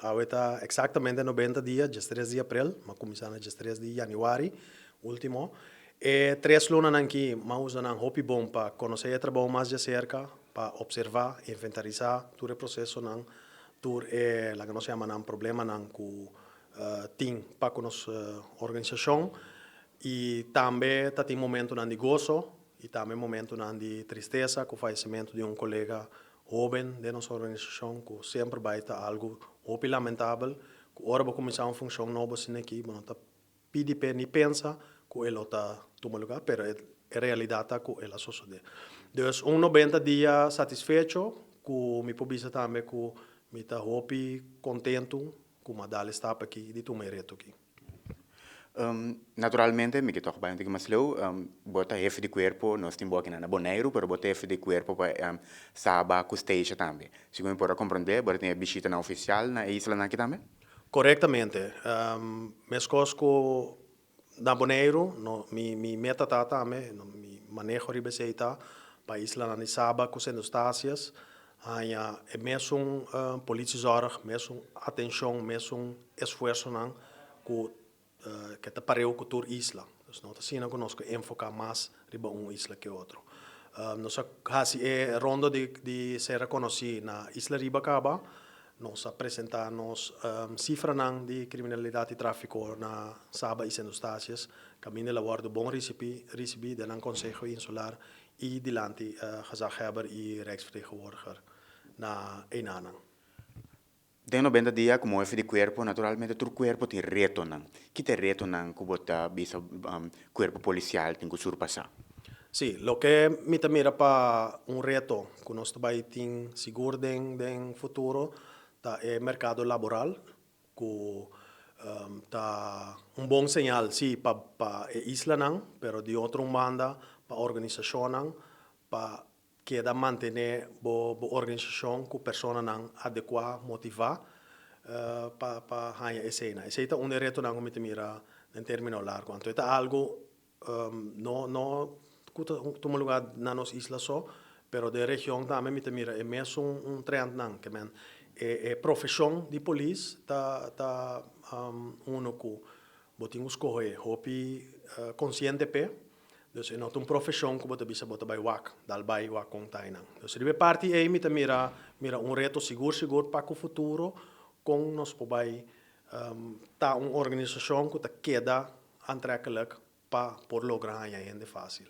Awe ta exactamente nobenta dia, diestres di april, m'a cuminsa na diestres di januari, ultimo. E tres lunanan aki m'a usa nan hopi bon pa conoce e trabou mas di acerca, pa observa, inventarisa tur e procesonan, tur e laga nos yama nan problemanan cu tin pa cu nos organisacion. Y tambe ta tin momentonan di goso y tambe momentonan di tristesa cu fallecimento di un colega hoben den nos organisashon ku semper bai ta algu hopi lamentabel ku ora bo kuminsá un funshon nobo asina aki bo no ta pidi p'e ni pensa ku e lo ta tuma lugá pero e realidat ta ku el a sosodé. Dus un nobenta dia satisfecho ku mi por bisa tambe ku mi ta hopi kontentu ku mi a dal e stap aki di tuma e reto aki. Naturalmente mi ke tok bai un tiki mas leu bo ta hefe di kuerpo nos tin bo akinan na boneiru pero bo ta hefe di kuerpo pa Saba ku Stacia tambe segun mi por a komprende bo ta tin e bishita nan ofisial na e islanan aki tambe? Korektamente meskos ku na boneiru mi mi meta ta tambe mi maneho riba esei ta pa islanan di Saba ku Sint Eustatius Haña e mesun polici zorg, mesun atencion, mesun esfuersonan cu ke ta pareu cu tur isla. Dus no ta asina cu nos ke enfoca mas riba un isla ke otro. Nos a haci e rondo di ser reconoci na isla riba caba, nos a presenta nos cifranan di criminalidad y trafico na Saba y Sint Eustatius, caminda el a wordo bon ricibi den nan conseho insular I dilanti gezaghebber i rijksvertegenwoordiger na enanan. Den nobenta dia ku moe fidi kuerpo, naturalmente tur kuerpo tin retonan. Ki ta e retonan ku bo ta bisa kuerpo polisial tin ku surpasá? Sí, loke mi ta mira pa un reto ku nos ta bai tin sigur den futuro ta e merkado laboral. Cu ta un bon señal, si, pa e islanan, pero di otro un banda pa organisacionnan pa keda mantene bo organisacion cu personanan adecua, motiva pa haña esey nan. Esey ta un di e retonan cu mi ta mira den termino largo. Anto e ta algo No no ku ta tuma luga na nos isla so, pero den region tambe mi ta mira e mesun trendnan ke men. E e profeshon di polis ta ta uno ku bo tin ku skohe hopi konsiente p'e. Pues e no ta un profeshon ku bo ta bisa bo ta bai wak dal bai wak kon tainan. Pues riba e parti ei mi ta mira mira un reto sigur sigur pa ku futuro kon nos por bai ta un organisashon ku ta keda Antrekkelijk pa por logra haña hende fásil.